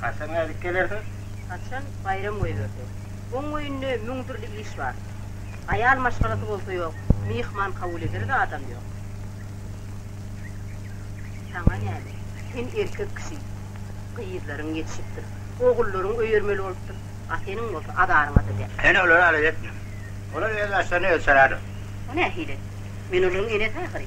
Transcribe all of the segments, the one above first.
Haçan gaýdyp gelersiň? Haçan baýram goýberse. Oň göýnünde müň dürli iş bar. Aýal maşgalasy bolsa ýok, myhman kabul ederä-de adam ýok. Saňa näme? Sen erkek kişi. Gyzlaryň ýetişipdir. Ogullaryň öýermeli bolupdyr. A seniň bolsa azaryňa-da däl. Sen olary alada etme. Olar öz başlaryny özi çalalar. O nähili? Men olaryň enesi ahyry.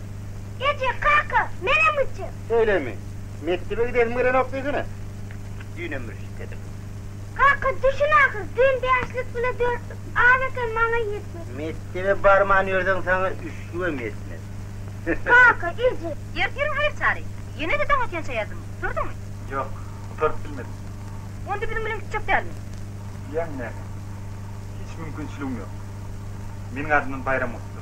Eje, kaka, menem gitjek. Şeýlemi? Mekdebe gidesiň gelenok diýsene. Düýnem bir şik edim. Kaka, düşün ahyr, düýn bäşlik bile dörtlük az eken, maňa ýetmez. Mekdebe barman ýörseň, saňa üçlügem ýetmez. Kaka, eje. Ertiriň her çary, ýene-de daň ekençä ýazyň. Gutardyňmy? Ýok, gutaryp bilmedim. Onda biziň bilen gitjek dälmi? Bilýäňmi näme? Hiç mümkinçiligim ýok. Meniň adymdan baýram gutla.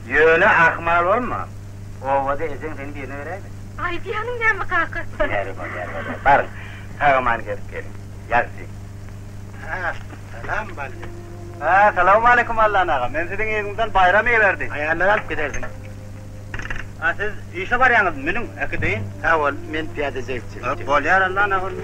Ýöne ahmal bolma. Obada ejeň seni birine beräýmesin. Aýdýanyň näme kaka? Bäri bor, bäri bor, bäri. Baryň, sag-aman gezip geliň. Ýagşy. As-salam Bally. Salawmaleýkim Allan aga. Men siziň yzyňyzdan Baýram iberdi. Aýallary alyp gidersiň. A siz işe barýaňyzmy? Münüň, äkideýin. Sag bol, men pyýada jigitçilik. Bolýar Allan aga onda.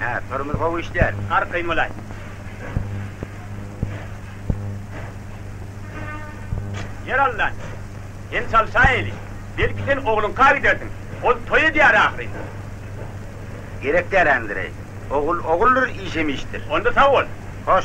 Hä, tormoz gowy işlär. Arkaýyn bolaý. Ýer alnan. Sen çalşaýaýly. Belki sen ogluňka gidersiň. Ol toý edýär ahyryn. Gerek däl, Andreý. Ogul oguldyr, iş hem işdir. Onda sag bol. Hoş.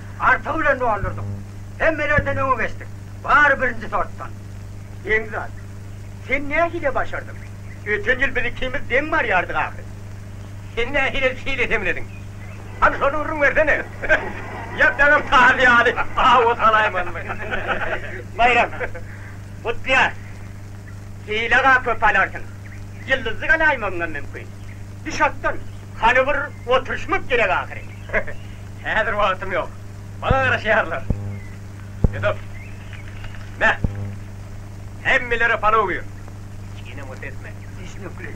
artygy bilen doldurdyk. Hemmelerden öňe geçdik. Bary birinji sortdan. Begzat, sen nähili başardyň? Öten ýyl biz ikimiz deň barýardyk ahyry. Sen nähili şeýle demlediň? Hany şony gürrüň bersene. Ýa daňyň tazy ýaly awa salaýmanmy? Baýram, Gutlyýaz, hile-ga köp alarsyň. Ýyldyzy galaýmagyňam mümkin. Düş atdan, hany bir oturyşmak gerek ahyry. Häzir wagtym ýok. Maňa garaşýarlar. Ýudup. Mä. Hemmelere palaw ber. Çiginem bolsa etme. Düşnükli.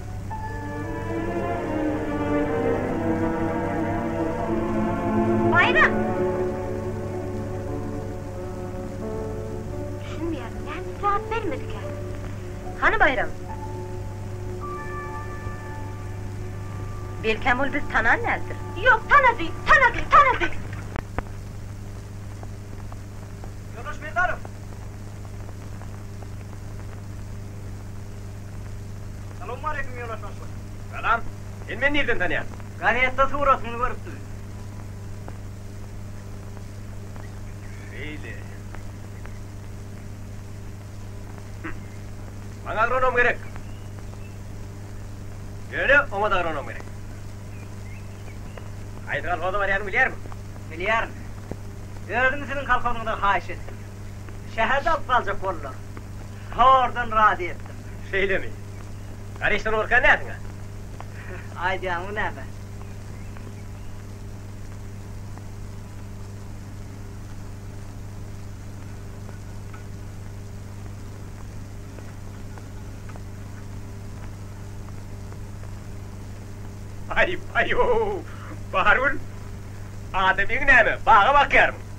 Baýram! Düşünmeýärin, näme jogap bermedikä? Hany Baýram? Belkäm ol bizi tanan däldir? Ýok, tanady, tanady, tanady! Ýoldaş Merdarow! Salowmaleýkim ýola şaşlyk. Salam. Sen meni nirden tanýaň? Gazetde suratyňy görüpdim. Şeýle. Hümm. Maňa agronom gerek. Ýöne oňa-da agronom gerek. Haýsy kolhoza barýanyňy bilýärmiň? Bilýärin. Özüm siziň kolhozyňyzdan haýyş etdim. Şäherde alyp galjak boldular. Zordan razy etdim. Şeýlemi? Garişde bolurka näsiň-ä? Aýdýaňmy näme? Aý, baý-ow! Bahargül, adam egiň näme, baga bakýarmyň?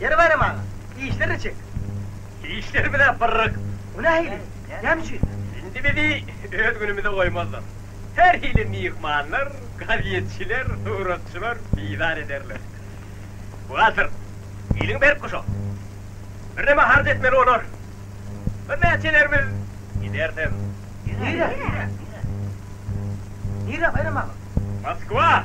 Ýeri baram aga, işler niçik? Işler biraz pyrryk. O nähili? Näme üçin? Indi bizi öz günümize goýmazlar. Her hili myhmanlar, gazetçiler, suratçylar bizar ederler. Buhgalter, eliň berk guşa. Birneme harç etmeli bolar. Birnäçelerimiz gidersiň. Nirä? Nirä, Baýram aga? Moskwa!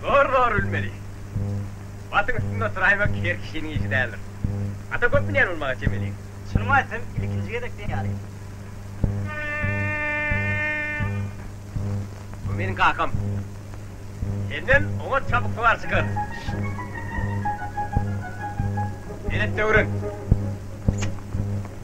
Zor zor ülmeli. Batyň üstünde oturaýmak her kişiniň işi däldir. Ata köp münýän bolmaga çemeliň. Çynymy aýtsam ilkinji gezek deňýaryn. Bu meniň kakam. Senden oňat çabuk sowar çykar. Belet döwrüň.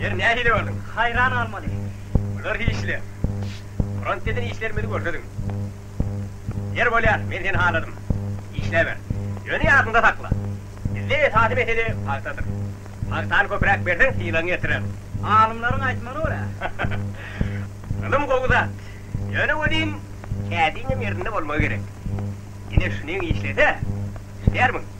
Ýeri nähili gördüň? Haýran galmaly. Bular hiçle. Front eden işlerimizi görseziň. Ýeri bolýar, men seni haladym. Işläber. Ýöne ýadyňda sakla. Bizde esasy mesele pagtadyr. Pagtany köpräk berseň sylagyňy ýetireris. Alymlaryň aýtmagyna görä. Ylym gowy zat. Ýöne welin kädiňem ýerinde bolmagy gerek. Ine şunyň işlese, işlärmiň?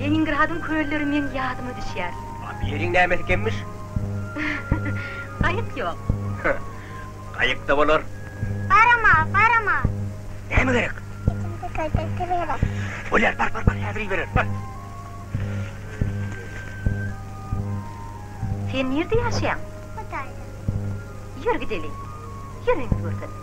Leningradyň kölleri meň ýadyma düşýär. A bu ýeriň näme ekenmiş? Gaýyk ýok. Gaýyk-da bolar. Barama, barama. Näme gerek? Ikinji kölde su gerek. Bolýar, bar, bar, bar, häzir ibereris, bar. Sen nirde ýaşaýaň? Hytaýda. Ýör gideli. Ýör öýňizi görkezip.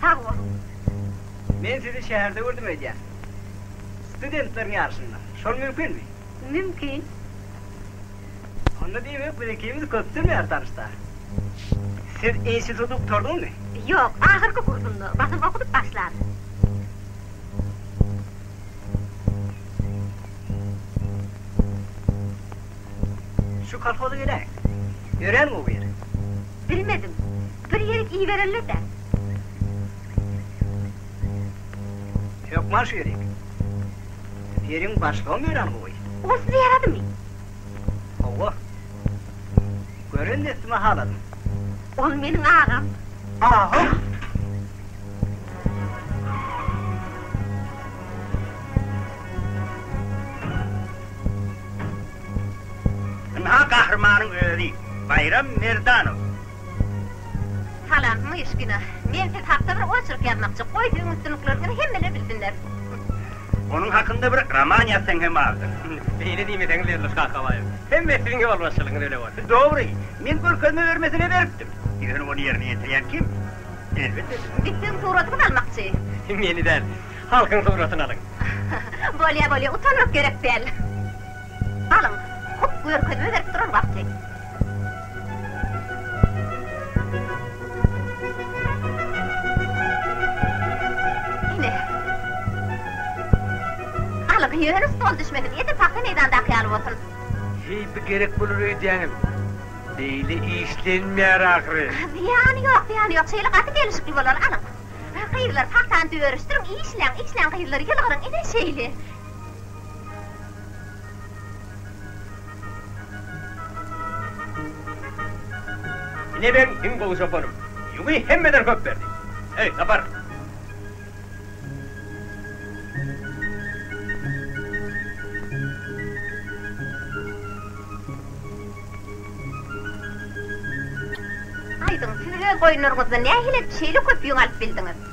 Sag boluň. Men sizi şäherde gördüm öýdýän. Studentleriň ýaryşynda. Şol mümkinmi? Mümkin. Onda diýmek biz ikimiz köpden bäri tanyşda. Siz instituty gutardyňmy? Ýok, ahyrky kursumda. Basym okudyp başlaryn. Şu kolhoza geläýiň. Örän gowy ýer. Bilmedim. Bir ýerik iýibererler dä. Hökman şu ýerik. Ýeriň başlygam öýran gowy. Ol size ýaradymy? Hawa. Gören dessime haladym. Ol meniň agam. Agam? Ynha, gahrymanyň özi, Baýram Merdanow. Salam Myşkina. Men siz hakda bir oçerk ýazmakçy. Goý siziň üstünlikleriňizi hemmeler bilsinler. Onuň hakynda bir roman ýazsaň hem azdyr. Beýle diýmeseňiz Berluş Kakabaýew. Hemme siziň ýolbaşçylygyňyz öle bolsun. Dobry. Men görkezme bermesine beripdim. Ýöne ony ýerine ýetirýän kim? Elbetde siz. Biz siziň suratyňyzy almakçy. Meni däl. Halkyň suratyny alyň. Bolýa bolýa. Utanmak gerek däl. Galyň, hut görkezme berip duran wagty. Ine. Galyň, ýöne stol düşmesin, edil pagta meýdandaky ýaly bolsun. Heý, bu gerek bolar öýdýäňmi? Beýle işlenmeýär ahyry. Zyýany ýok, zyýany ýok, şeýle gaty gelişikli bolar. Alyň. Gyzlar, pagtany düwerişdiriň, işläň, işläň, gyzlar, ýylgyryň, ine, şeýle. Ine meň iň gowy çopanym. Ýügi hemmeden köp berdi. Eý, Sapar! Aýdyň, siz öz goýunlaryňyzdan nähili edip şeýle köp ýüň alyp bildiňiz?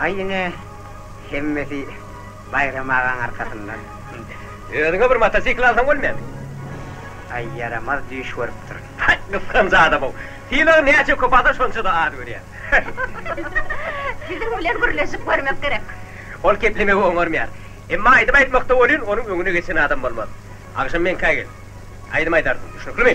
Aý ine hemmesi Baýram agaň arkasynda. Özüňe bir motosikl alsaň bolmaýarmy? Aý ýaramaz düýş görüpdir. Haý gysganç adamyň. Sylagy näçe köp alsa şonça-da az görýär. Siziň bilen gürleşip görmek gerek. Ol keplemegi oňarmaýar. Emma aýdym aýtmakda welin onuň öňüne geçen adam bolmaz. Agşam meňkä gel. Aýdym aýdarsyň. Düşnüklimi?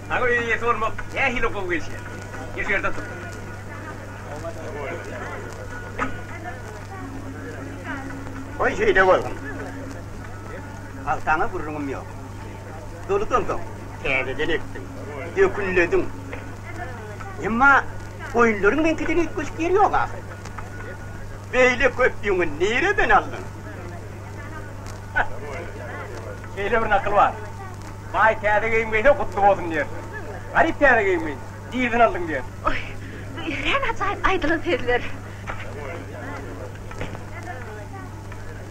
Saňa öý eýesi bolmak nähili gowy gelşýär? Efirde tur. Goý şeýle bolsun. Agtaňa gürrüňim ýok. Doly dolduň. Täzeden ekdiň. Dökünlediň. Emma goýunlaryň meňkiden üýtgeşik ýeri ýok ahyry. Beýle köp ýüňi nireden aldyň? Şeýle bir nakyl bar. Baý täze geýim geýse gutly bolsun diýer. Garyp täze geýim geýse, dirisin aldyň diýer. Oý, bu örän ajaýyp aýdylan sözler.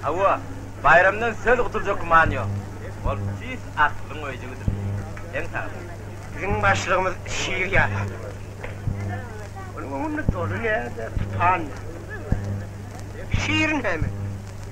Hawa, Baýramdan söz gutuljak güman ýok. Ol tüýs akylyň öýjügidir. Seň saglygyň. Biziň başlygymyz şir ýaly. Onuň öňünde doly ýerde tupan ýaly. Şirin hem.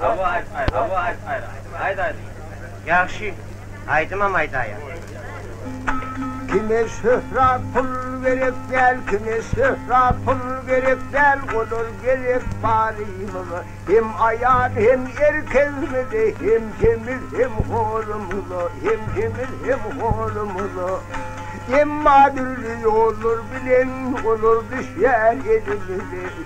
Hawa aýt gaýra, hawa aýt gaýra. Aýt aýdym. Ýagşy, aýdymam aýdaýaň. Kime şöhra pul gerek däl kime şöhra pul gerek däl olar gerek barymyza hem aýal hem erkegimize hem semiz hem horumyza hem semiz hem horumyza emma dürli ýollar bilen olar düşýär elimize.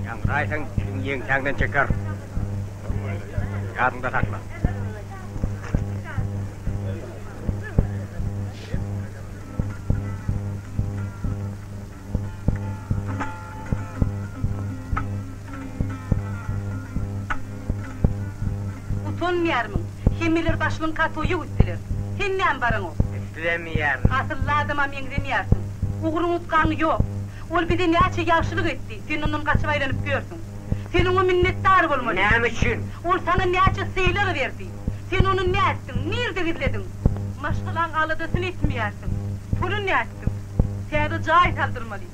Ýaňraýsaň, seni ýeňsäňden çeker. Ýadyňda sakla. Utanmaýarmyň? Hemmeler başynyň katoýa gitdiler. Hemmäm baraňok. Islemeýärin. Asylly adama meňzemeýärsiň. Ugruň utgaň ýok. Ol bize näçe ýagşylyk etdi, sen ondan gaçyp aýlanyp ýörsüň. Sen oňa minnetdar bolmaly. Näme üçin? Ol saňa näçe sylag berdi. Sen ony nätdiň? Nirde gizlediň? Maşgalaň aladasyny etmeýärsiň. Puly nätdiň? etdiň. Täze jaý saldyrmaly.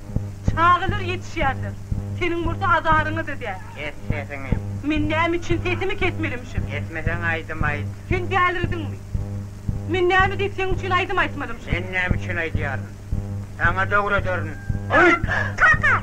Çagalar ýetişýärler. Seniň bolsa azaryňy-da däl. Kes sesiňi. Men näme üçin sesimi kesmelimişim? Kesmeseň aýdym aýt. Sen dälirdiňmi? Men näme diýip seň üçin aýdym aýtmalymişim? Men näme üçin aýdýaryn? Saňa döwrederin. Aýt! Kaka!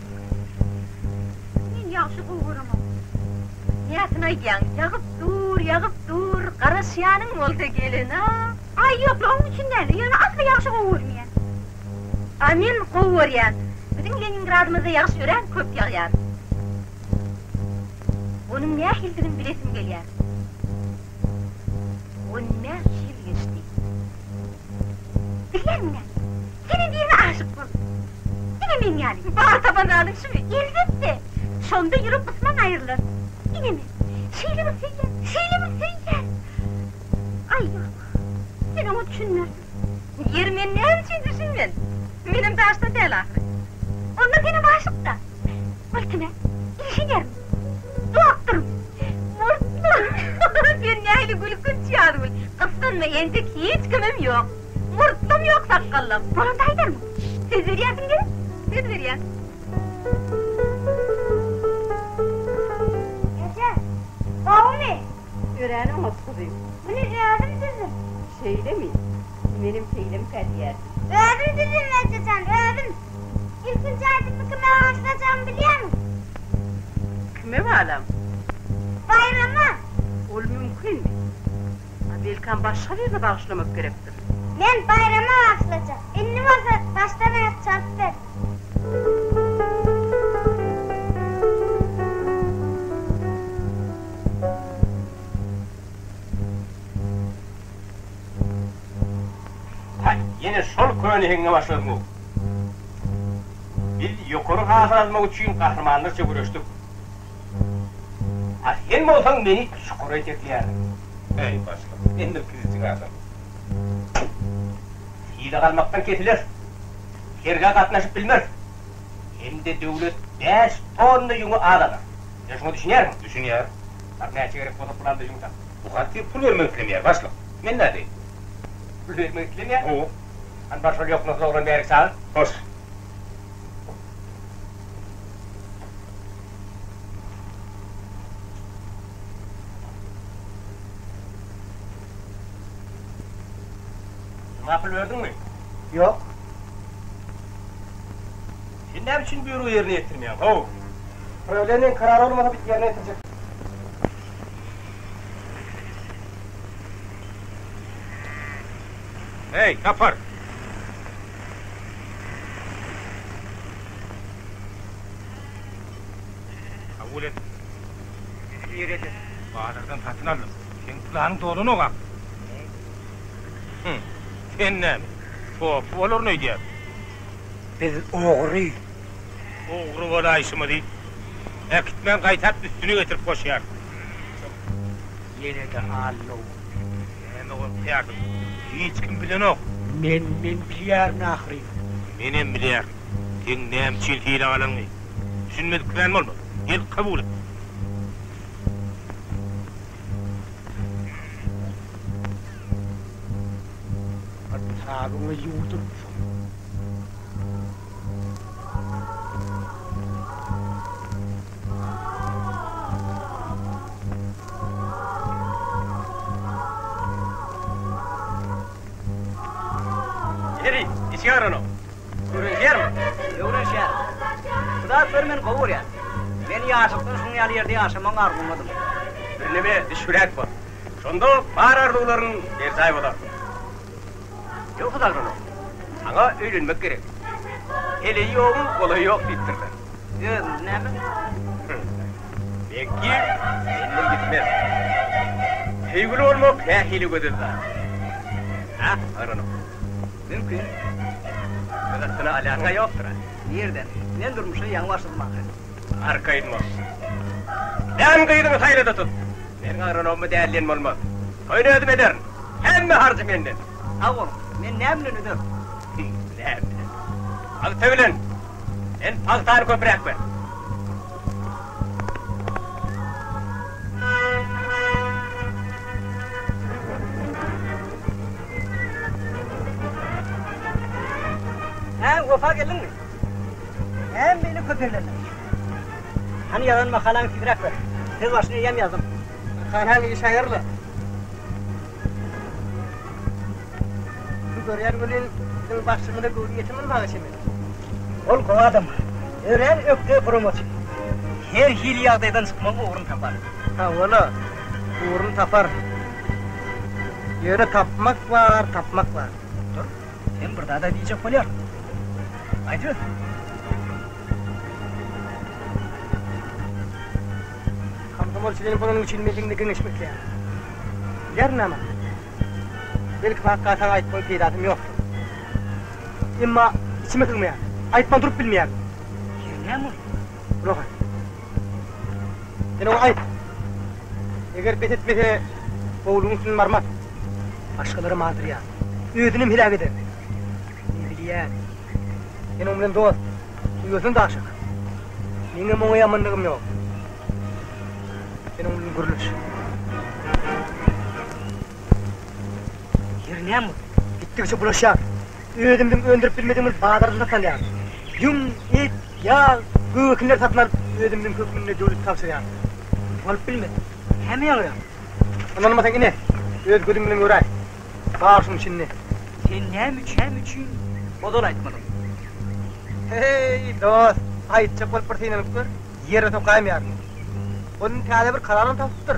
Sen ýagşy gowurymyň näsini aýdýaň, Ýagyp dur, ýagyp dur, garaşýanyň bolsa gelin-a. Aý, ýok-la, oň üçin däl-de, ýöne asly ýagşy gowurmýan. A men gowy görýän. Biziň Leningradymyzda ýagyş örän köp ýagýar. Onuň nähilidigini bilesim gelýär. On bäş ýyl geçdi. Bilýänmiň näme? Seniň birine aşyk boldum. Diňe meň ýaly. Bar tapan zadyň şumy? Elbetde. Şonda ýürek gysmaň aýrylar. Ine men. Şeýle bir söýýän. Şeýle bir söýýän. Aý ýok. Sen oňa düşünmersiň. Ýeri men näme üçin düşünmen? Menem daşdan däl ahyry. Onda senem aşykda. Myltym-ä. Inženermi? Doktormy? Murtly. Sen nähili gülkünç ýazgül. Gyssanma entek hiç kimim ýok. Murtdam ýok sakgallam. Bolanda aýdarmyň. Söz berýärsiň gerek? Söz berýän. Eje, gowumy? Örän oňat gyzym. Muny özüm düzdüm. Şeýlemi? Menem şeýlemkä diýerdim. Özüm düzdüm eje jan, özüm. Ilkinji aýdymymy kime bagyşlajagmy bilýärmiň? Kime balam? Baýrama. Ol mümkinmi? Belkäm başga birine bagyşlamak gerekdir. Men Baýrama bagyşlajak. Indi bolsa başdan-aýak çalyp ber. Haý, ýene şol köne heňňe başladyň-ow. Biz ýokary hasy almak üçin gahrymanlarça göreşdik. A sen bolsaň meni çukura ýetekleýärdiň. Äý, başlyk, men bir kiçijik adam. Hile galmakdan kesileris. Sergä gatnaşyp bilmeris. Hem-de döwlet bäş tonna ýüňi az alar. Sen şuňa düşünýärsiňmi? Düşünýär. Bar, näçe gerek bolsa pul al-da ýüň tap. Bu garçyk pul bermek islemeýär, başlyk. Men nädeýin? Pul bermek islemeýär? Hawa. Hany bar şol ýoknasyz oglan bärik çagyr. Hoş. Makul berdiňmi? Ýok. Sen näme üçin býuro ýerine ýetirmeýäň, how? Prawleniýäň karary bolmasa biz ýerine ýetirjek. Heý, tapar! Kabul et. Bizi ýereje. Bazardan satyn aldym. Seň planyň dolanok-a. Hum. Sen näme, topy bolaryn öýdýärmi? Biz ogry. Ogry bolaýşymyzy äkitmän gaýtap üstüni getirip goşýarys. Ýene-de Allow. Näme gorkýarsyň? Hiç kim bilenok. Men, men bilýärin ahyryn. Menem bilýärin. Seň näme üçin hile galanyňy. Düşünmedik kän bolma. Gel, kabul et. Bir pysabyňy ýuwdurupsyň. Heri, içiň agranok. Öwrenişýärmiň? Öwrenişýärin. Hudaý kör meni gowy görýär. Men ýaşlykdan şunuň ýaly ýerde ýaşamagyň arzuwyndadyň. Birneme düşbüräk bol. Şonda bar arzuwlaryň berjaý bolar. Ýogsa zalmanok. Saňa öýlenmek gerek. Heleýi ýoguň, golaýy ýok diýipdirler. Özüňiz näme? Meňki menden gitmez. Söýgüli bolmak nähili gözel zat. Hä, zalmanok? Mümkin. Gyzyksyny alýanyň-a ýokdur-a? Nirden? Men durmuşa ýaňy başladym ahyryn. Arka aýdma. Sen gyzyňy saýlada tut. Meniň agronommy däl diýen bolmaz. Toýuny özüm ederin. Hemme harjy menden. Sag bol. Men näme bilen öderin? Näme bilen? Pagta bilen. Sen pagtany köpräk ber. Hä, Wepa geldiňmi? Äm beýle köp ýerlerde. Hany ýazan makalaňy tizräk ber. Söz başyny eýýäm ýazdym. Makalaň iş haýyrly. Şu görýän welin biziň bagşymyza göwni ýeten bolmaga çemeli. Ol gowy adam. Örän ökde guramaçy. Her hili ýagdaýdan çykmagyň ugruny tapar. Hawa-la, ugruny tapar. Ýöne tapmak bar, tapmak bar. Dur. Hem bir zada diýjek bolýar. Aýdyp öt. Komsomolçy benim bolanym üçin men seňde geňeşmek isleýän. Bilerin ama. Belki hakka saňa aýyp goýup peýdasym ýokdur. Emma içime sygmaýar. Aýypman durup bilmeýär. Ýeri näme ol? Gulak as. Sen oňa aýt. Eger bes etmese, howlugyň üstünden barmaz. Başgalaram azdyrýar. Özünem heläk eder. Men bilýän. Sen oň bilen dost. Uýasyna-da aşyk. Meňem oňa ýamanlygym ýok. Sen oň bilen gürleş. Ýeri näme boldy? Gitdigiçe bulaşýar. Özümiziň öndürip bilmedigiňiz bazarda satalýarys. Ýüň, et, ýag, göw ekinler satyn alyp, özümiziň hökmünde döwlete tabşyrýarys. Bolup bilmez. Heme ýagýar. Ynanmasaň ine, öz gözüň bilen göräý. Bar şuň içinde. Sen näme üçin ozal aýtmadyň? Heý, dost, aýtjak bolup bir synanyp gör, ýere sokaýmaýaryn. Ol indi täze bir kalalam tapypdyr.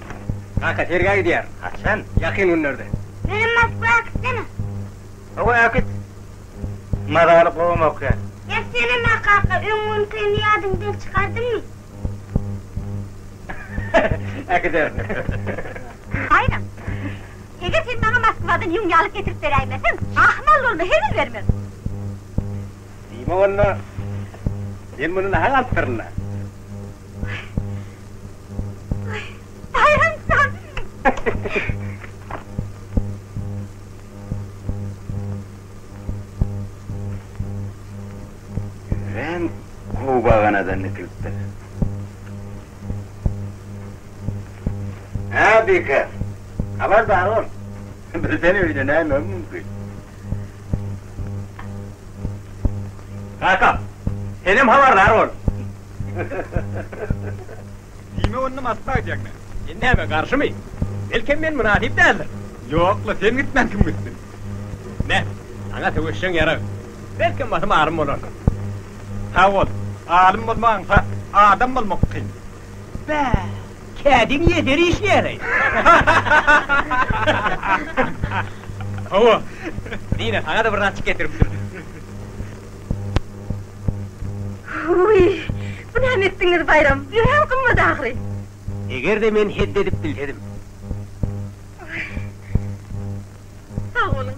Kaka, sergä gidýärin. Haçan? Ýakyn günlerde. Menem Moskwa äkitsene. Hawa, äkit. Mazaly gowam okaýar. Ýa senem-ä kaka, öň günkäni ýadyňdan çykardyňmy? Äkiderin. Haýran. Eger sen maňa Moskwadan ýüň ýalyk getirip beräýmeseň, ahmal bolma, hezil bermez. Diýme onda, men muny naha galypdyryn-da. Baýram jan! Örän gowy baganadan dikilipdir. Hä, Bike, habardar bol. Bilseň öýde näme mümkin? Kaka, senem habardar bol. Diýme onda Moskwa gidýäňmi? Sen näme, garşymy? Belkem men mynasyp däldir. Ýok-la, sen gitmän kim gitsin? Ine, saňa söweşjeň ýarag. Belkem basym alym bolarsyň. Sag bol, alym bolmagynça adam bolmak kyn. Bäh! Kädiň ýeser işleýäleý. Hawa. Dine, saňa-da bir raçik getiripdim. Huý, bu näme etdiňiz, Baýram? Örän gymmat ahyry. Eger-de men hed edip bilsedim. Sag boluň.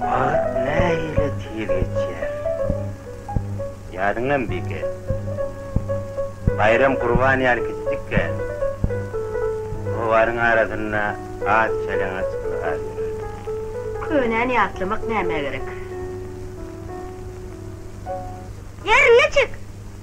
Wagt nähili tiz geçýär. Ýadyňdamy Bige? Baýram Gurban ýaly kiçijikkä, rowaryň arasynda az çeleňaç ylgap ýörerdi. Könäni ýatlamak nämä gerek? Ýerine çek!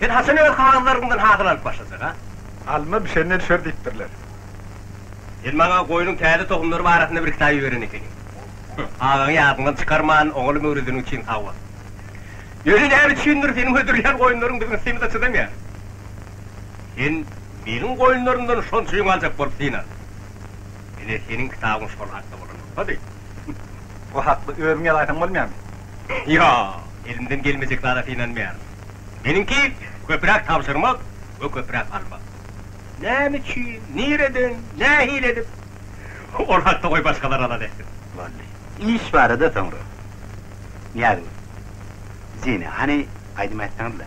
Sen haçan öz halanlaryňdan hasyl alyp başlajag-a? Alma bişende düşer diýipdirler. Sen maňa goýnuň täze tohumlary barasynda bir kitap iberen ekeniň. Agaňy ýadyňdan çykarman, oňaly möwredeň üçin sag bol. Ýöne näme üçindir, seniň hödürleýän goýunlaryň biziň ysymy-da çydamaýar. Sen meniň goýunlarymdan şonça ýüň aljak bolup synanyň. Ine, seniň kitabyň şol hakda bolanokady. Bu hakda özüň ýazaýsaň bolmaýarmy? Ýok, elimden gelmejek zada synanmaýaryn. Meniňki, köpräk tabşyrmak we köpräk almak. Näme üçin, nireden, nähili edip? Ol hakda goý başgalar alada etsin. Boldy. Iş barada soňra. Nyýazgül. Zina, hany, aýdym aýtsaňyz-la.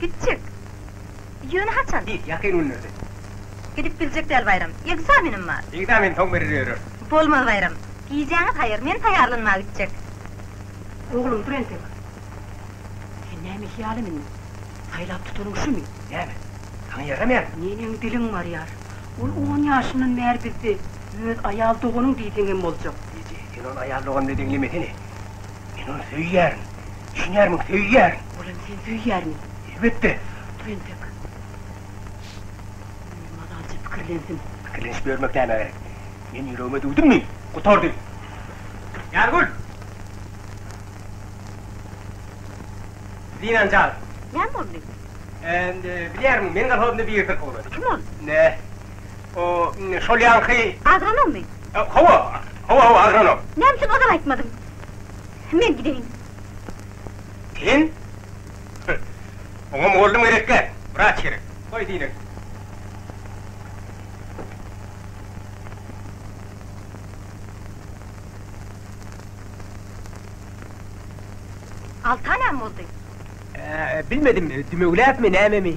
Gitjek. Ýöne haçan? Hiç, ýakyn günlerde. Gidip biljek däl Baýram. Ekzamenim bar. Ekzamen soň berer ýörür. Bolmaz Baýram. Gijäňiz haýyr, men taýýarlanmaga gitjek. Oglum, dur entek. Sen näme hyýalam indi? Saýlap tutanyň şumy? Näme? Saňa ýaramaýarmy? Neneň diliň barýar? Ol on ýaşyndan bäri bizde. Öz aýal doganyň diýseňem boljak. Eje, sen ony aýal dogan diýip eňlemesene. Men ony söýýärin. Düşünýärmiň, söýýärin. Olam seni söýýärmi? Elbetde. Dur entek. Öýüm azajyk pikirlensin. Pikirlenişip ýörmek nämä gerek? Men ýüregime düwdümmi, gutardy. Ýargül! Zinany çagyr. Näme boldy? Bilýärmiň, meniň kolhozymda biri syrkawlady. Kim ol? Nä? O, şol ýaňky. Agronommy? Hawa, hawa, hawa, agronom. Näme üçin ozal aýtmadyň? Men gideýin. Sen? Oňa mugallym gerek däl, wraç gerek. Goý, diýineris. Alta näme boldy? Bilmedim, dümewläpmi, nämemi.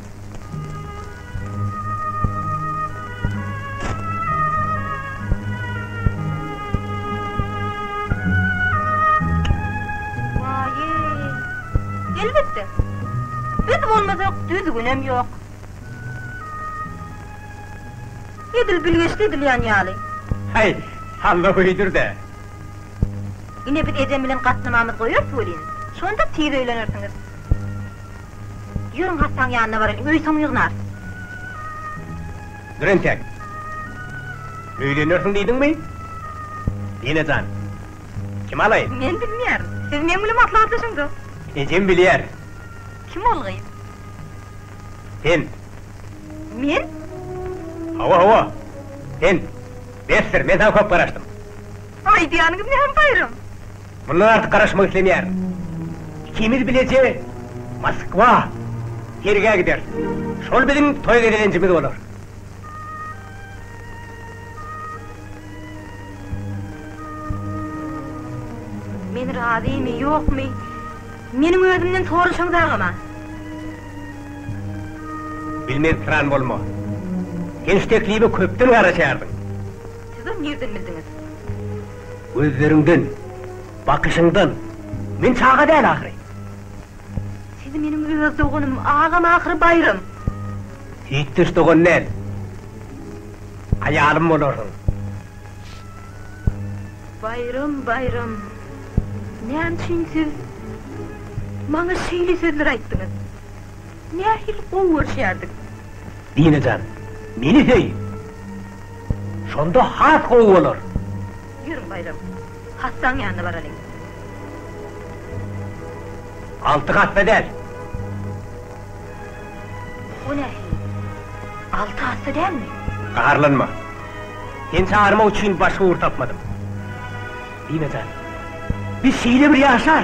düzgünem ýok. Edil bilgeşli edilýän ýaly. Haý, halla höýdür-de. Ine biz ejem bilen gatnamamyzy goýarys welin, şonda tiz öýlenersiňiz. Ýörüň hassaň ýanyna baraýyn, öý soň ýygnar. Dur entek. Öýlenýärsiň diýdiňmi? Dine jan. Kimi alaýyn? Men bilmeýärin. Siz meň bilen maslahatlaşyň-da. Ejem bilýär. Kim ol gyz? Sen. Men? Hawa, hawa. Sen. Bes sir, men saňa köp garaşdym. Aýdýanyňyz näme Baýram? Mundan artyk garaşmak islemeýärin. Ikimiz bileje Moskwa, sergä gideris. Şol biziň toý gezelenjimiz bolar. Men razymy, ýokmy? Meniň özümden soraşaň dagama. Bilmez pyran bolma. Sen şu teklibe köpden garaşýardyň. Siz-ä nirden bildiňiz? Gözleriňden, bakyşyňdan men çaga däl ahyry. Siz meniň öz doganym, agam ahyry Baýram. Hiç-hiç dogan däl. Aýalym bolarsyň. Baýram, Baýram, näme üçin siz maňa şeýle sözler aýtdyňyz? Nähili gowy görüşýärdik. Dine jan, meni söý! Şonda has gowy bolar. Ýör, Baýram, hassaň ýanyna baralyň. Alty hassa däl. O nähili? Alty hassa dälmi? Gaharlanma. Seni çagyrmak üçin başga ugur tapmadym. Dine jan, biz şeýle bir ýaşar!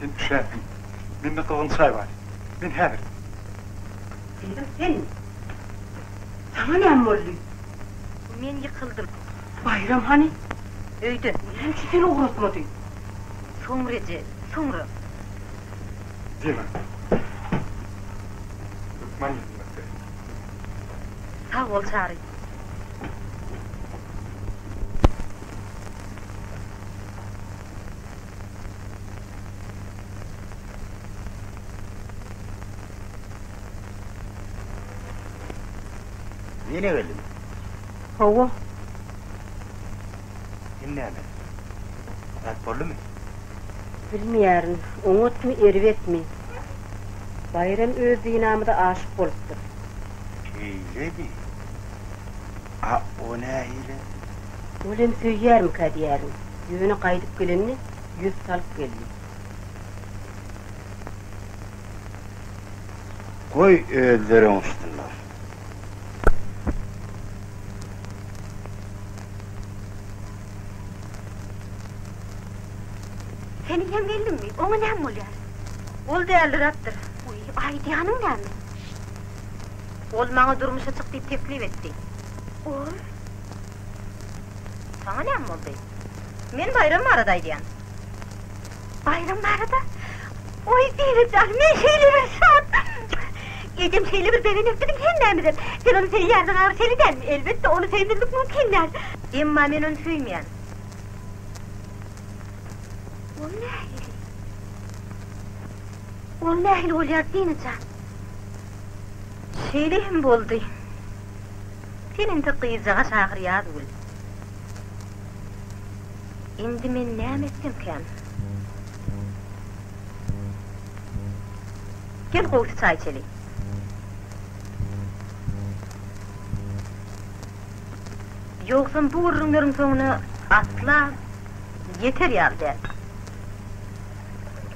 Sen üşändiň. Mende gyzgyn çaý bar. Men häzir. Diýdim, sen. Saňa näme boldy? Men ýykyldym. Baýram hany? Öýde. Näme üçin seni ugratmady? Soňra eje, soňra. Diýme. Hökman ýetmekde. Sag bol Çary. Ýene geldim. Hawa. Indi näme? Ýat boldumy? Bilmeýärin, oňatmy, erbetmi. Baýram öz Dinamyza aşyk bolupdyr. Şeýledi. A o nähili? Ol hem söýýärmikä diýýärin. Ýöne gaýdyp gelende ýüz salyp geldi. Goý, özleri öňüssinler. Seniň hem gelniňmi? Oňa näme bolýar? Ol dälirapdyr. Wiý, aýdýanyň näme? Ol maňa durmuşa çyk diýip teklip etdi. Ol? Saňa näme boldy? Men Baýram barada aýdýan. Baýram barada? Oý, Zeýnep jan, men şeýle bir şat! Ejem şeýle bir begenekdimi hemmämizem. Sen ony söýýärdiň agr şeýle dälmi? Elbetde, ony söýmezlik mümkin däl. Emma men ony söýmeýän. Ol nähili? Ol nähili bolýar, Dina jan? Şeýle hem boldy. Sen indi gyzjagaş ahyr ýaz gül. Indi men näme etsemkäm? Gel gowusy çaý içeli. Ýogsam bu gürrüňleriň soňuna asla ýeter ýaly däl.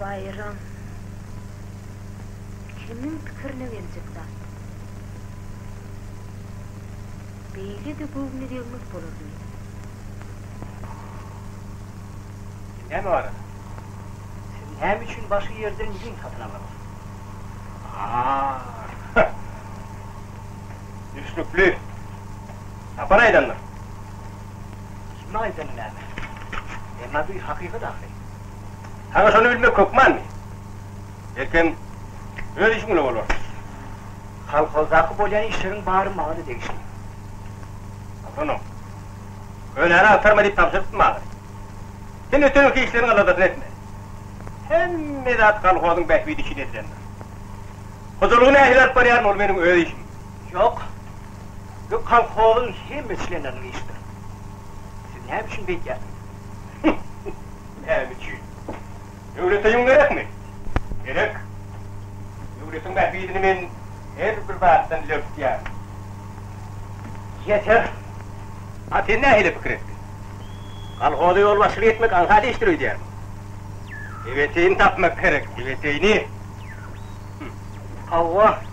Baýram. Kimiň pikirine geljek zat. Beýle-de göwni degmez bolar diýip. Näme barada? Siz näme üçin başga ýerden ýüň satyn aldyňyz? Aaa. Düşnükli. Tapar aýdandyr. Kimiň aýdany näme? Emma bu hakykat ahyry. Saňa şony bilmek hökmanmy? Ertem öz işiň bilen bolarsyň. Kolhozdaky bolýan işleriň bary maňa-da degişli. Agzanyň. Könäni agtarma diýip tabşyrypdym ahyry. Sen ötenki işleriň aladasyny etme. Hemme zat kolhozyň bähbidi üçin edilendir. Hojalygy nähili alyp barýaryn, ol meniň öz işim. Ýok. Bu kolhozyň hemme çlenleriniň işidir. Siz näme üçin beýt ýatyňyz? Näme üçin? Döwlete ýüň gerekmi? Gerek. Döwletiň bähbidini men her bir zatdan ileri tutýaryn. Ýeter! A sen nähili pikir etdiň? Kolhoza ýolbaşçylyk etmek aňsat işdir öýdýärmiň? Ebeteýini tapmak gerek, ebeteýini! Hawa!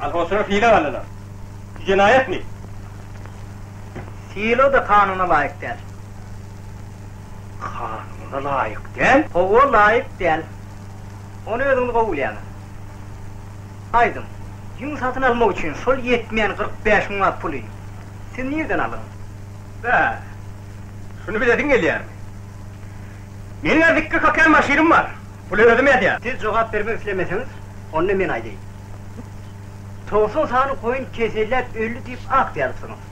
Alhosra hile galyna. Şu jenaýatmy? Silo-da kanuna laýyk däl. Kanuna laýyk däl? Hawa, laýyk däl. Ony özüňiz gowulýaňyz. Aýdyň, ýüň satyn almak üçin şol ýetmeýän kyrk bäş müňlap puly siz nirden aldyňyz? Bä, şuny bilesiň gelýärmi? Meniň-ä zikki kakan maşynym bar. Puly özüm ýazýan. Siz jogap bermek islemeseňiz, onda men aýdaýyn. Togsan sany goýun keselläp öldi diýip aktsiýa alypsyňyz.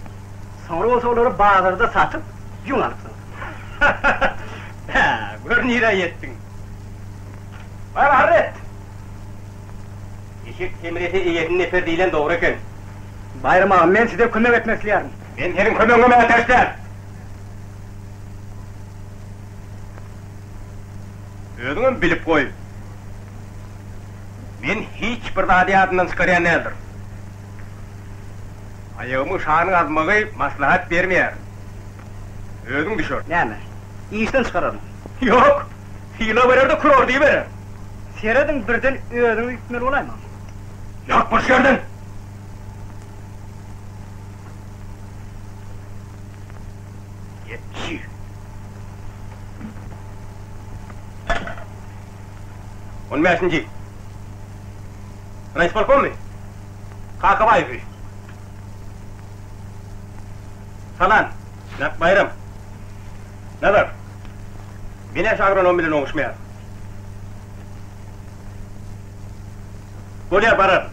Soňra bolsa olary bazarda satyp, ýüň alypsyňyz. Bä, gör nirä ýetdiň. Bar arz et! Eşek semrese eýesini neper diýlen dogry eken. Baýram aga, men size kömek etmek isleýärin. Men seniň kömegiňe mätäç däl. Özüňem bilip goý. Men hiç bir zady ýadymdan çykarýan däldirin. Aýagymy şanyň azmagy maslahat bermeýär. Özüň düşer. Näme, işden çykararmy? Ýok! Sylag berer-de kurorda iberer. Serediň, birden özüňi üýtmeli bolaýmaň. Ýok, bir şu ýerden! Ýetdi. On bäşinji. Raýispolkommy? Kakabaýewi. Salam. Näp Baýram. Nazar. Binäş agronom bilen oňuşmaýar. Bolýar, bararyn.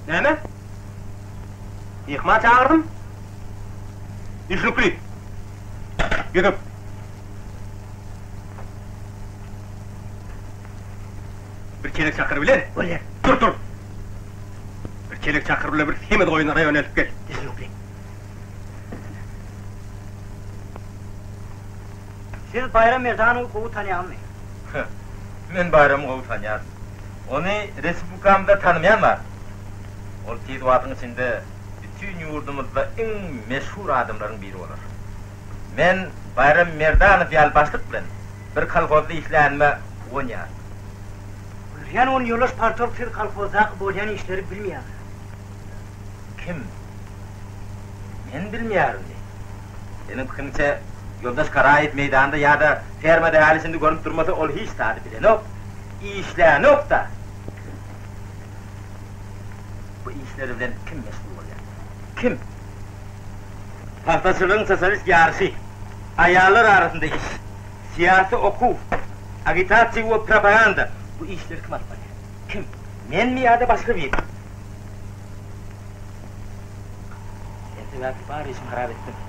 Näme? Myhman çagyrdym. Düşnükli. gidip Bir çelek çakyr bilen. Bolýar. Dur, dur. Bir çelek çakyr bilen bir semiz goýun raýon elip gel. Düzünlikli. Siz Baýram Mirzany gowy tanýaňyzmy? Hä. Men Baýramy gowy tanýaryn. Ony respublikamyzda tanamaýan bar. Ol tiz wagtyň içinde bütin ýurdumyzda iň meşhur adamlaryň biri bolar. Men Baýram Merdanow ýaly başlyk bilen bir kolhozda işlänime guwanýaryn. Gülýän on ýollaş partorg siz kolhozdaky bolýan işleri bilmeýäňiz. Kim? Men bilmeýärinmi? Seniň pikiriňçe ýoldaş Garaýew meýdanda ýa-da fermada häli şindi görnüp durmasa ol hiç zady bilenok, işlänok-da. Bu işler bilen kim meşgul bolýar? Kim? Pagtaçylygyň sosialist ýaryşy, aýallar arasynda iş, syýasy okuw, agitasiýa we propaganda, bu işleri kim alyp barýar? Kim? Menmi ýa-da başga birimi? Sen sebäpli bar işimi harap etdiň.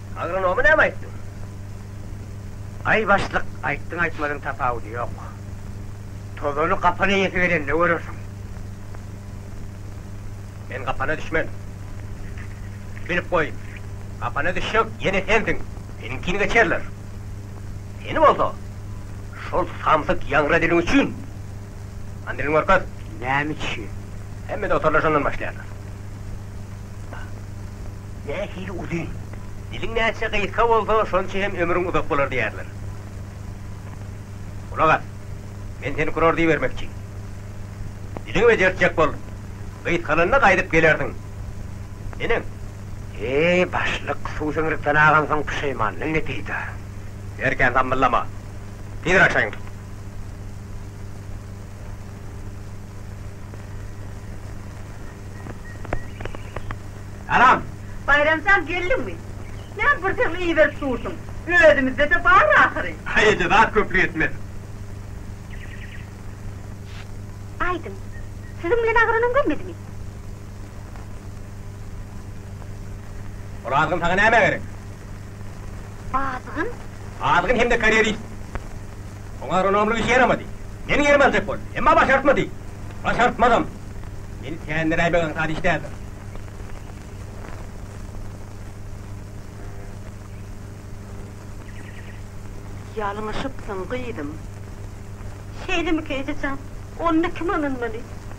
Agronomy näme aýtdyň? Aý başlyk, aýtdyň aýtmadyň tapawudy ýok. Tozany gapan eýesi gelende görersiň. Men gapana düşmen. Bilip goý, gapana düşjek ýene sensiň. Seniňkini geçerler. Seni bolsa şol samsyk ýaňra diliň üçin han dilini görkez. Näme üçin? Hemme dotorlar şondan başlaýarlar. nähili uzyn. Diliň näçe gysga bolsa, şonça hem ömrüň uzak bolar diýerler. Gulak as, men seni kurar diýibermekçi. Diliňi bejertjek bol. Gysgalanda gaýdyp gelersiň. Neneň? Eý, başlyk, suw siňrikden agansoň puşeýmanlygyň ne peýda? Berkän zammyllama. Tizräk şaýyňy tut. Salam! Baýram jan geldiňmi? Näme bir segli iberip dursuň? Özümizde-de bar ahyry. Haý eje zat köplük etmez. Aýdyň, siziň bilen agranam görmedimi? Ol azgyn saňa näme gerek? Azgyn? Azgyn hem-de karýerist. Oňa Ronaldo işi ýaramady. Meniň ýerime aljak boldy. Emma başartmady. Başartmazam. Meni tämiräýmek aňsat iş däldir. Ýalňyşypsyň, gyzym. Şeýlemika ejejan? Onda kim ynanmaly?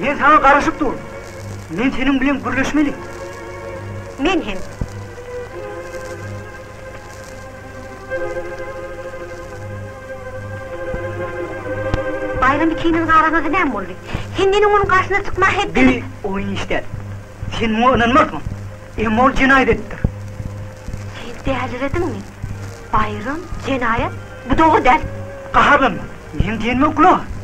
Men saňa garaşyp durun. Men seniň bilen gürleşmeli. Men hem. Baýram ikiniň arasynda näme boldy? Sen meniň onuň garşysyna çykmaga hetdemi? Bir oýun işlädim. Sen muňa ynanmarsyň. Emma ol jenaýat edipdir. Sen dälirediňmi? Baýram, jenaýat? Bu dogry däl. Gaharlanma. Meniň diýenime gulak as.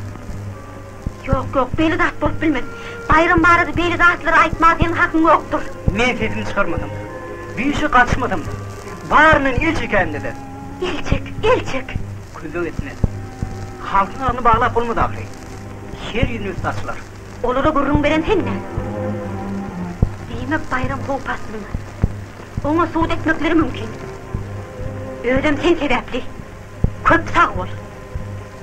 Ýok, ýok, beýle zat bolup bilmez. Baýram barada beýle zatlary aýtmaga seniň hakyň ýokdur. Men sesimi çykarmasam-da, düýşe gatyşmasam-da, baryndan el çekäýmde-de. El çek, el çek! Kömek etmez. Halkyň agzyny baglap bolmaz ahyry. Şer ýüzüne üsti açylar. Olara gürrüň beren sen-dä? Diýmek, Baýram howp astynda. Oňa sud etmekleri mümkin. Özem sen sebäpli. Köp sag bol.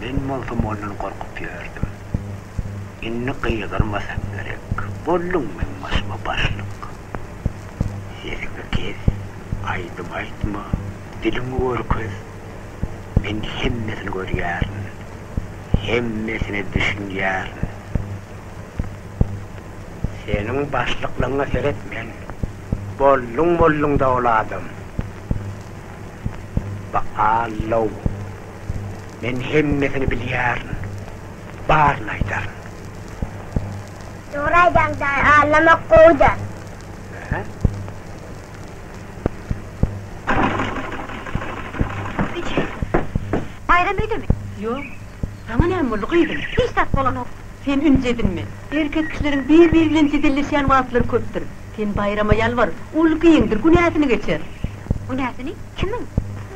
Men bolsam ondan gorkup ýördüm. Indi gygyrmasaň gerek. Bolduň meň başyma başlyk. Sesiňi kes, aýdym aýtma, diliňi görkez. Men hemmesini görýärin. Hemmesine düşünýärin. Seniň başlyklygyňa seret men. Bolduň bolduň dowul adam. Ba-allow! Men hemmesini bilýärin. Baryny aýdaryn. Dogry aýdaň daýy, allamak gowy-da. Hä? Eje, Baýram öýdemi? Ýok. Saňa näme boldy, gyzym? Hiç zat bolanok. Sen ünji edinme. Erkek kişileriň bir-biri bilen jedelleşýän wagtlary köpdür. Sen Baýrama ýalbar, ol giňdir, günäsini geçer. Günäsini? Kimiň?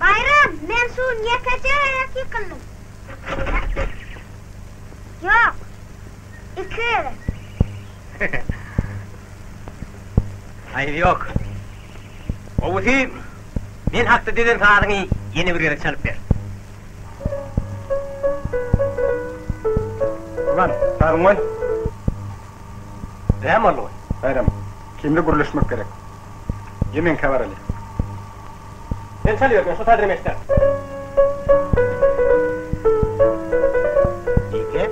Baýram, men şu ýekeje gezek ýykyldym. Ýok, iki gezek. Aýby ýok. Gowusy, men hakda düzen sazyňy ýene bir gezek çalyp ber. Gurban, sazyňy goý. Näme boldy goý? Baýram, kimde gürleşmek gerek. Ýemenkä baraly. Men çalyberdim, şu sazram eşder. Ýeke,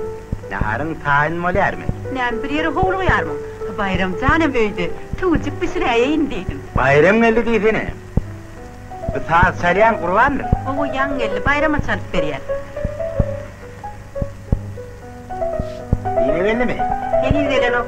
naharyň taýyn bolýarmy? Näme, bir ýere howlugýarmyň? Baýram janem öýde, tüwüjik bişiräýeýin diýdim. Baýram geldi diýsene. Bu saz çalýan Gurbanmy? Hawa, ýaňy geldi, Baýrama çalyp berýär. Dine geldimi? Heniz gelenok.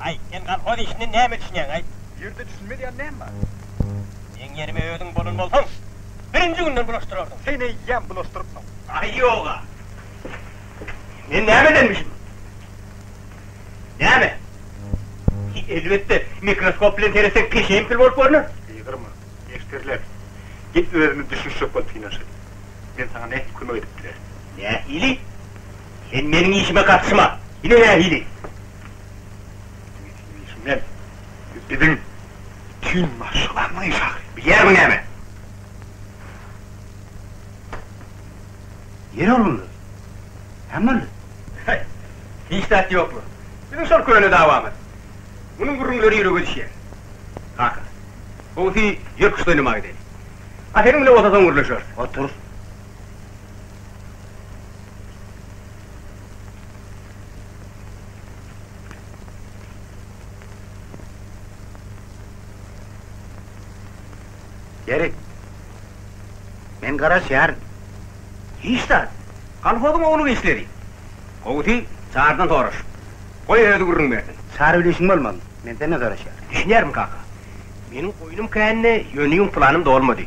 Aýt, sen kolhoz işinden näme düşünýäň, aýt? Bu ýerde düşünmeliýän näme bar? Meň ýerime özüň bolan bolsaň, birinji günden bulaşdyrardyň. Sen eýýäm bulaşdyrypsyň. Aý, ýog-a. Men näme edenmişim? Näme? Elbetde, mikroskop bilen seretseň, peşeýim kül bolup görner. Gygyrma, neşterläp. Gel özümiz düşünişjek bolup synanyşaly. Men saňa nähili kömek edip bilerin? Nähili? Sen meniň işime gatyşma! Ine nähili! Meniň işimden biziň bütin maşgalamyň işi agry, bilýärmiň näme? Ýeri bolanda, näme boldy? Haý, hiç zat ýokla. Biziň şol köne dawamyz. Munuň gürrüňleri ýürege düşýär. Kaka, gowusy ýör küşt oýnamaga gideli. A seniň bilen otadan gürleşeris. Otur. Gerek. Men garaşýaryn. Hiç zat. Kolhozyň oglum işledi. Gowusy, Çarydan soraş. Goý, özi gürrüň bersin. Çary bilen işiň bolmaly. Men senden soraşýaryn. Düşünýärin, kaka. Meniň goýnum kände, ýöne ýuň planym dolmady.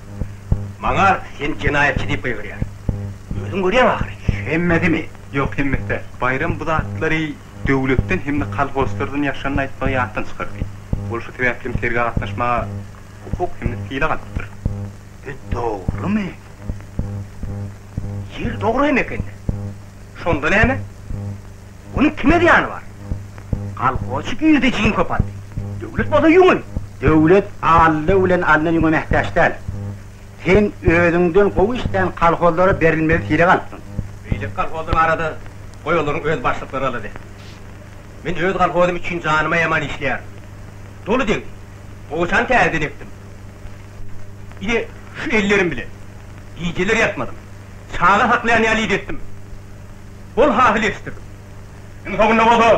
Maňa seni jenaýatçy diýip gygyryar. Özüň görýäň ahyry. Hemmesini? Ýok, hemmesi däl. Baýram bu zatlary döwletden hem-de kolhozçylardan ýaşanyny aýtmagy ýatdan çykardy. Ol şu sebäpli hem sergä gatnaşmaga hukuk hem-de sylag alypdyr. Bu dogrumy? Ýeri dogry hem eken-dä. Şonda näme? Munuň kime zyýany bar? Kolhozçy girdi jiň köpeldi. Döwlet bolsa ýüňe. Döwlet Alla bilen Alna ýüňe mähtäç däl. Sen özüňden gowy işlän kolhozlara berilmeli sirek alypsyň. Beýleki kolhozlar barada goý olaryň öz başlyklary alady. Men öz kolhozym üçin janym aýaman işleýärin. Doly deň. Gowaçany täzeden ekdim. Ine, şu ellerim bilen. Gijeler ýatmadym. Çaga saklaýan ýaly idetdim. bol hasyl ýetişdirdim. Iň soňunda bolsa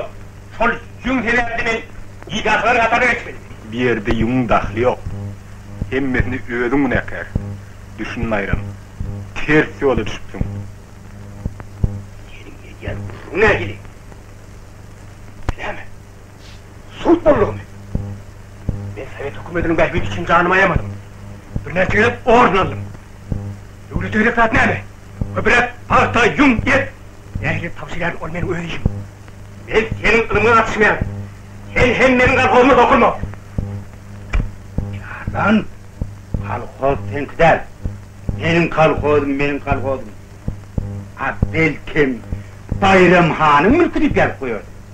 şol ýüň sebäpli men bidahlaryň hataryna geçmeliydim. Bu ýerde ýüňüň dahly ýok. Hemmesine özüň günäkär. Düşün Naýram, ters ýola düşüpsiň. Seniň edýän gürrüňiň nähili? Näme? Sud boldugymy? Men sowet hökümetiniň bähbidi üçin janymy aýamadym. Birnäçe gezek orden aldym. Döwlete gerek zat näme? Köpüräk pagta, ýüň, et. Nähili tabşyrýaryn, ol meniň öz işim. Men seniň ylymyňa gatyşmaýaryn. Sen hem meniň kolhozyma dokunma. Jardan, kolhoz seňki däl. Meniň kolhozym, meniň kolhozym. A belkem, Baýram hanyň mülki diýip ýazyp goýarsyň.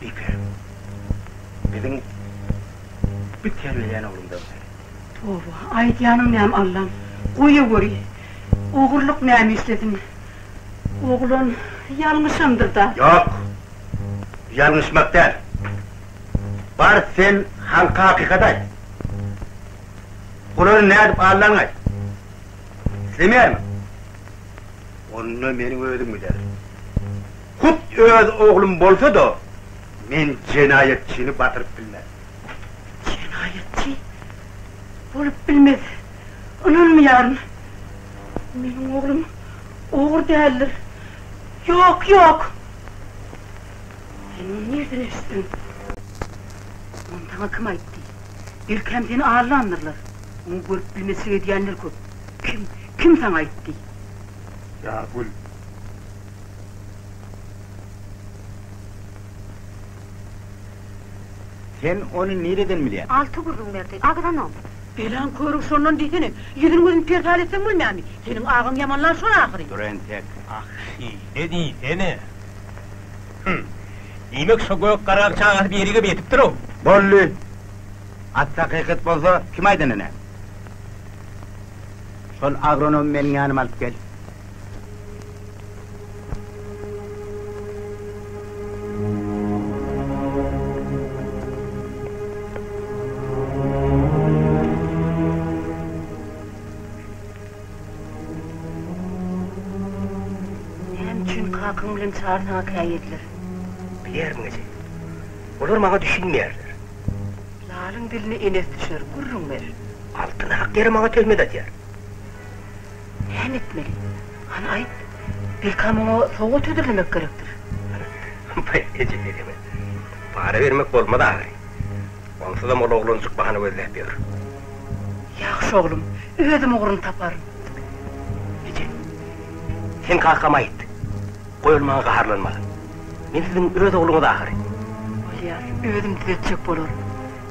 Bike, biziň Bik terbileýän oglumdan bäri. Toba, aýdýanyň näme Allam, goýa göri, ogurlyk näme işlediň? Oglan ýalňyşandyr-da. Ýok, ýalňyşmak däl. Bar sen halka hakykaty aýt. Bulary nädip aldanyňy aýt. Islemeýärmiň? Onda meniň özüm giderin. Hut öz oglum bolsa-da, men jenaýatçyny batyryp bilmez. Jenaýatçy? Bolup bilmez. Ynanmaýaryn. Meniň oglum ogry däldir. Ýok, ýok! Sen muny nirden eşitdiň? Muny saňa kim aýtdy? Belkäm seni allandyrlar. Muny görüp bilmezçilik edýänler köp. Kim, kim saňa aýtdy? Ýagül, Sen ony nireden bilýäň? Alty gürrüň berdi. Agzanok. Belan körügi şondan diýsene. Ýüzüni-gözüni perhal etseň bolmaýarmy? Seniň agaň ýamanlar şol ahyry. Dur entek. Ah, şeýle diýsene. Hüm. Diýmek, şo gök garak çagasy birigip ýetipdir-ow. Boldy. At hakykat bolsa, kim aýdanyny? Şol agronomy meniň ýanyma alyp gel. kakyň bilen çar saňa käýediler. Bilýärin eje. Olar maňa düşünmeýärler. Lalyň diline enes düşer, gürrüň ber. Altyn hak ýere maňa töhmet atýar. Näme etmeli? Hany aýt. Belkäm oňa sowgat hödürlemek gerekdir? Baý eje dedeme para bermek bolmaz agry. Onsuzam ol oglanjyk bahana gözläp ýör. Ýagşy oglum, özüm ugruny taparyn. Eje, sen kakama aýt. Goý ol maňa gaharlanmasyn. Men siziň öz ogluňyz ahyry. Bolýar, özüm düzetjek bolaryn.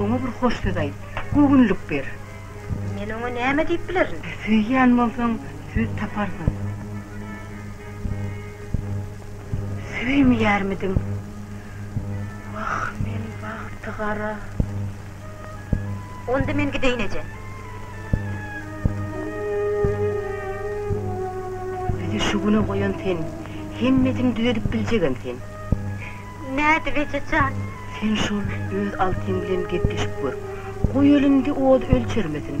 Oňa bir hoş söz aýt. Göwünlik ber. Men oňa näme diýip bilerin? Söýýän bolsaň, söz taparsyň. Söýmeýärmidiň? Wah, men bagtygara. Onda men gideýin, eje. Bizi şu güne goýan sen. Hemmesini düzedip biljegem sen. Nädip eje jan? Sen şol öz Altyň bilen gepleşip gör. Goý elinde ody ölçermesin.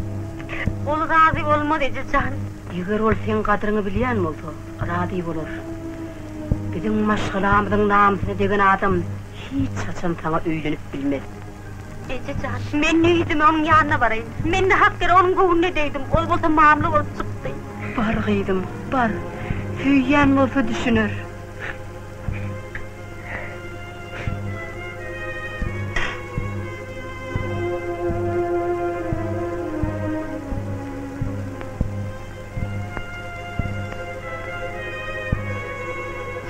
Ol razy bolmaz eje jan. Eger ol seň gadryňy bilýän bolsa, razy bolar. Biziň maşgalamyzyň namysyna degen adam hiç haçan saňa öýlenip bilmez. Eje jan, men öýdüm onuň ýanyna baraýyn. Men nahak ýere onuň göwnüne degdim. Ol bolsa mamla bolup çykdy. Bar gyzym, bar. Söýýän bolsa düşüner.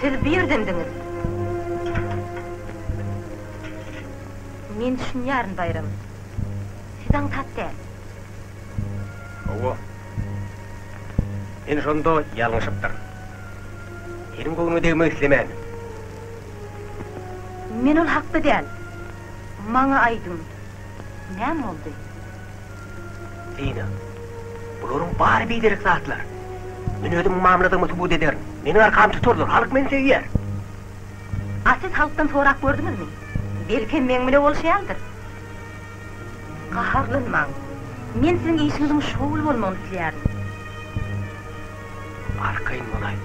Siz bu ýerdendiňiz? Men düşünýärin, Baýram. Siz aňsat däl. Hawa. Ine şonda ýalňyşypdyr. Seniň göwnüňe degmek islemän. Men ol hakda däl. Maňa aýdyň, näme boldy? Dina. Bularyň bary biderek zatlar. Men özümiň mamladygymy subut ederin. Meniň arkamy tutarlar. Halk meni söýer. A siz halkdan sorap gördüňizmi? Belkem meň bile bolşaýandyr. Gaharlanmaň. Men siziň işiňiziň şowly bolmagyny isleýärin. Arkaýyn bolaý.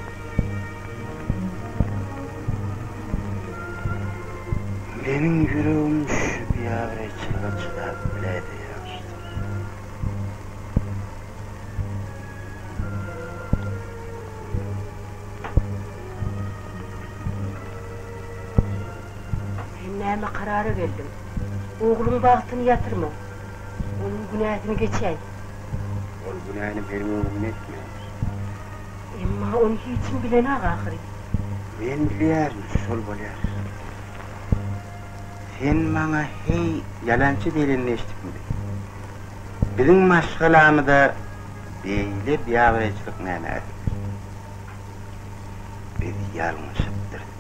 Meniň ýüregim şu biabraýçylyga çydap biläýse ýagşydyr. Sen näme karara geldiň? Ogluň bagtyny ýatyrma. Onuň günäsini geçäý. Ol günäni meniň öňümde etmändir. Emma ony hiç kim bilenok ahyry. Men bilýärin, şol bolýar. Sen maňa heý ýalançy diýlenini eşidipmidiň? Biziň maşgalamyza beýle biabraýçylyk näme äkidipdir? Biz ýalňyşypdyrys.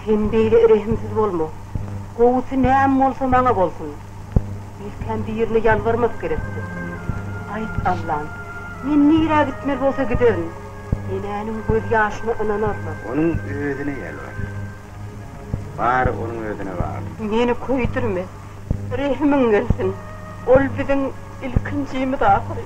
Sen beýle rehimsiz bolma. Gowusy näme bolsa maňa bolsun. Ilkäm birine ýalbarmak gerekdi. Aýt, Allam, men nirä gitmeli bolsa giderin. Enäniň gözýaşyna ynanarlar. Onuň özüne ýalbar. Bary onuň özüne bagly. Meni köýdürme. Rehimiň gelsin. Ol biziň ilkinjimiz ahyry.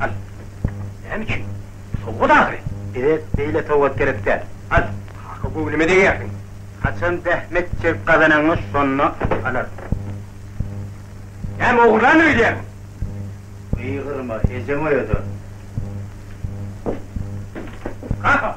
Al. Näme üçin? Sowgat ahyry. Bize beýle sowgat gerek däl. Al. Kaka göwnüme degýärsiň. Haçan zähmet çekip gazananyňy şonda alarsyň. Näme ogurlandy öýdýärmiň? Gygyrma, ejeň oýadar. Kaka!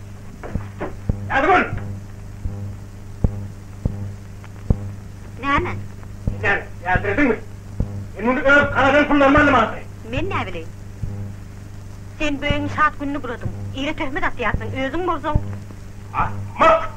Ýazgül! Näme? Näme, ýältirediňmi? Men muny öz garadan pullarym aldym ahyry. Men näbileýin. Sen böýegiň şat gününi buladyň. Ire töhmet atýarsyň, özüň bolsaň. Ahmak!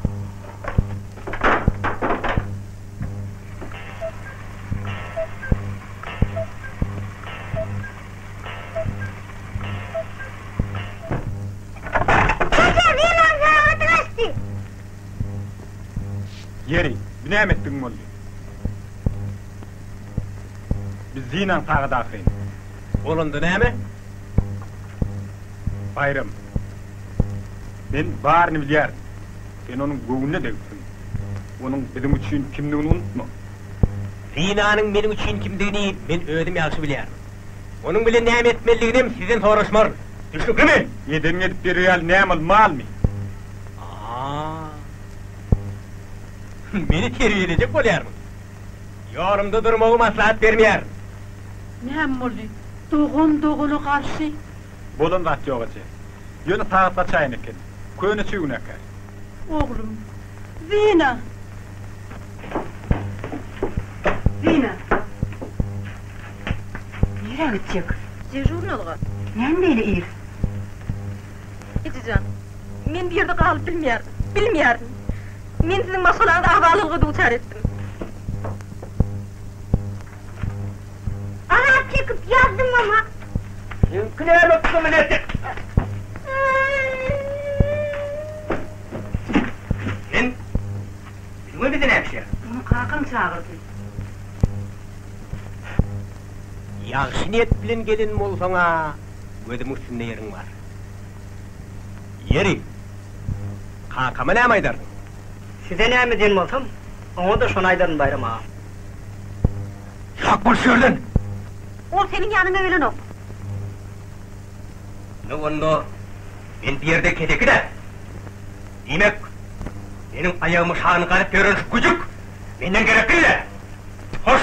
Ýeri, bu näme etdigiň boldy? Biz zynan sagat ahyryn. Bolanda näme? Baýram. Men baryny bilýärin. Sen onuň göwnüne degipsiň. Onuň biziň üçin kimdigini unutma. Zinanyň meniň üçin kimdigini men özüm ýagşy bilýärin. Onuň bilen näme etmelidiginem sizden soraşmaryn. Düşnüklimi? Edeniň edip berer ýaly näme ol, malmy? Aa. Meni terbiýelejek bolýarmyň? Ýolumda durmagy maslahat bermeýärin. Näme boldy? Dogan dogana garşy? Bolan zat ýok eje. Ýöne sagat gaçaýan eken. Köne çüwneker. Oglum, Zina. Zina. Nirä gitjek? Dežurnalga. Näme beýle ir? Ejejan, men bu ýerde galyp bilmeýärdim. Bilmeýärdim. Men siziň maşgalaňyzy abalylyga duçar etdim. Azap çekip ýazdym ama. Seňki näme kmleti? Men Üzüňe bizi nämişe? Muny kakam çagyrdy. Ýagşy niýet bilen gelen bolsaň-a, gözümiň üstünde ýeriň bar. Ýeri, kakama näme aýdarsyň? Size näme diýen bolsam, oňa-da şony aýdaryn, Baýram aga. Ýyrak bol şu ýerden! Ol seniň ýanyňa gelenok. Nowanda men bu ýerde keseki-dä. Diýmek, meniň aýagymy şan gazyp ýören şu güjük menden gerekli-dä. Hoş.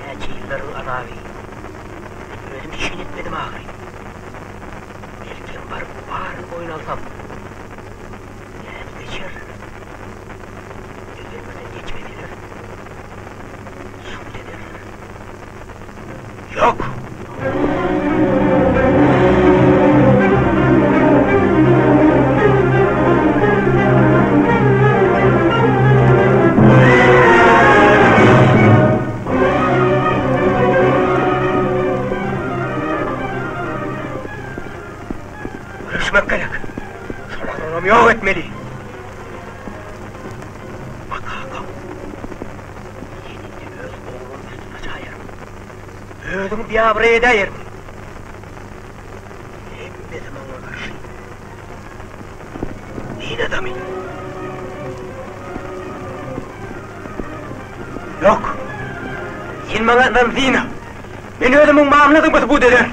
Näçe ýyllar bu azaby men özüm üçin etmedim ahyry. Belkem baryp baryny boýun alsam, nädip geçer? Eger birden geçmeseler, sud ederler. Ýok! Göreşmek gerek! Şolaram ýok etmeli! Baka-ka! Men indi öz oglumy üstüme çaýaryn! Özüňi biabraý edäýersiň. Hemmesi maňa garşy. Din adamy. Ýok. Sen maňa ynandyň. Men özümiň mamladygymy subut ederin.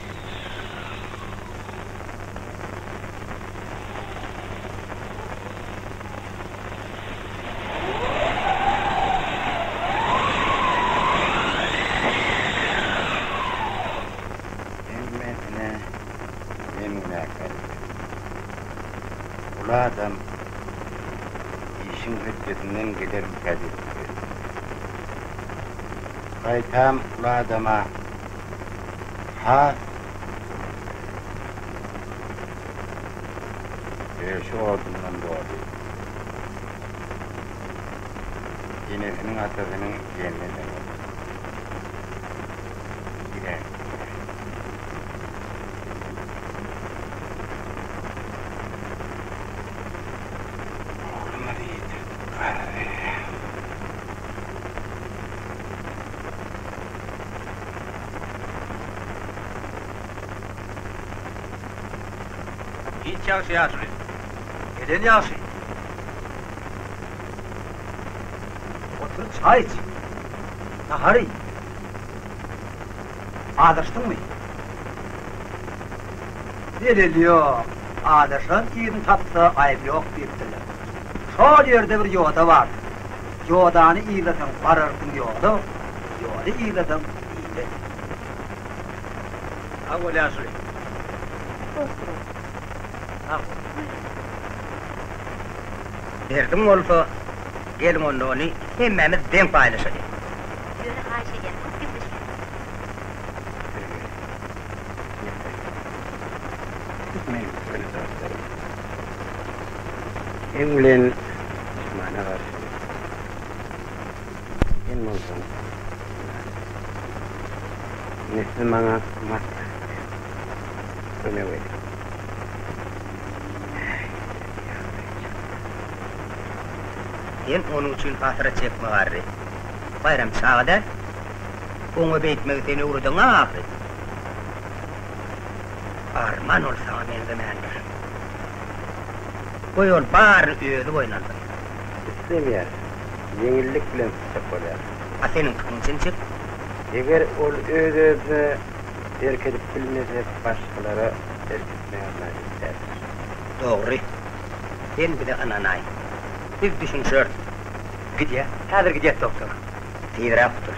Hemmesine men günäkär eken. Uly adam işiň hötdesinden gelermikä diýip ýöredi. Gaýtam uly adama. Ha. Ýöne şu odundan doly. Enesiniň atasynyň diýenine deňer. Giräýip oturyş. Oglumyz ýitip galdy. Hiç ýagşy ýaşuly. Neden ýagşy? Otur çaý iç. Nahar iý. Azaşdyňmy? Delil ýok. Azaşan irini tapsa aýby ýok diýipdirler. Şol ýerde bir ýoda bardy. Ýodany yzlasaň bararsyň ýola, ýoly yzlasaň ile. Sag bol ýaşuly. Dost bol. Sag bol. Derdiň bolsa geliň onda ony hemmämiz deň paýlaşaly. Ýöne haýyş edýän köp gepleşmäň. Gepleşmäň. Gepleşmäň. Seň bilen duşmana garşy Sen bolsaň Nesli maňa maslahat ber, kömek et. Sen onuň üçin hatyra çekme garry. Baýram çaga däl. Oňa beýtmegi sen öwreden-a ahyryn. Arman ol saňa meňzemändir. Goý ol baryny özi boýun alsyn. Islemeýär. Ýeňillik bilen syçjak bolýar. A seniň pikiň Jemşit? Eger ol öz-özüne erk edip bilmese, başgalara erk etmäge majbur däldir. Dogry. Sen bize ynanaý. Biz düşünişeris. Gidýä. Häzir gidýäs, doktor. Tizräk gutul.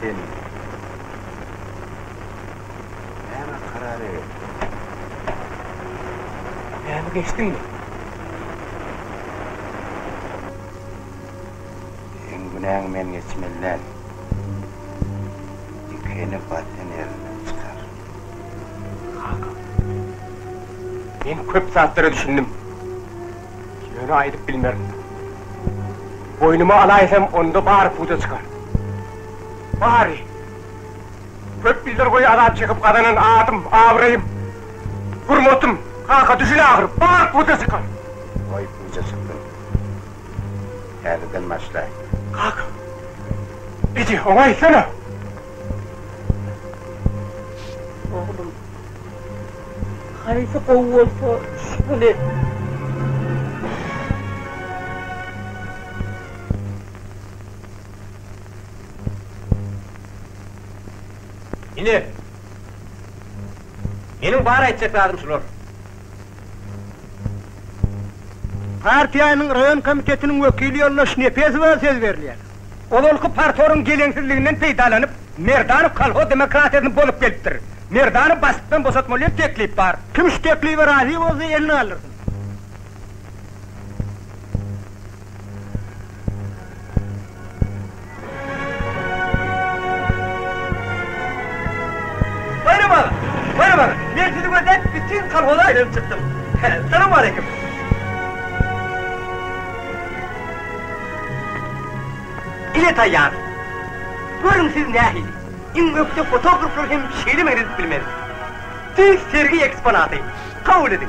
Sen näme karar edip? Pämi geçdiňmi? Seň günäňi men geçmeli däl. Dikeni batyny elinden çykar. Kaka, men köp zatlara düşündim. Ýöne aýdyp bilmerin. Boýnuma alaýsam, onda bary puda çykar. Bary! Köp ýyllar boýy azap çekip gazanan adym, abraýym, hurmatym, kaka, düşün ahyry, bary puda çykar! Goý, puda çyksyn. Häzirden başlaý. Kaka! Eje, oňa aýtsana! Haýsy gowy bolsa şol et. Ine. Meniň bar aýtjak zadym şular. Partiýanyň raýon komitetiniň wekili ýoldaş Nepesowa söz berilýär. Ozalky partoryň geleňsizliginden peýdalanyp, Merdanow kolhoz demokratiýasyny bozup gelipdir. Merdanowy başlykdan boşatmaly diýen teklip bar. Kim şu teklibe razy bolsa, elini galdyrsyn. Baýram aga! Baýram aga! Men sizi gözläp bütin kolhoza aýlanyp çykdym. Salam aleýkum! Ine taýýar. Görüň siz nähili. Iň ökde fotograflar hem şeýle meňzedip bilmez. Düýs sergi eksponaty. Kabul ediň.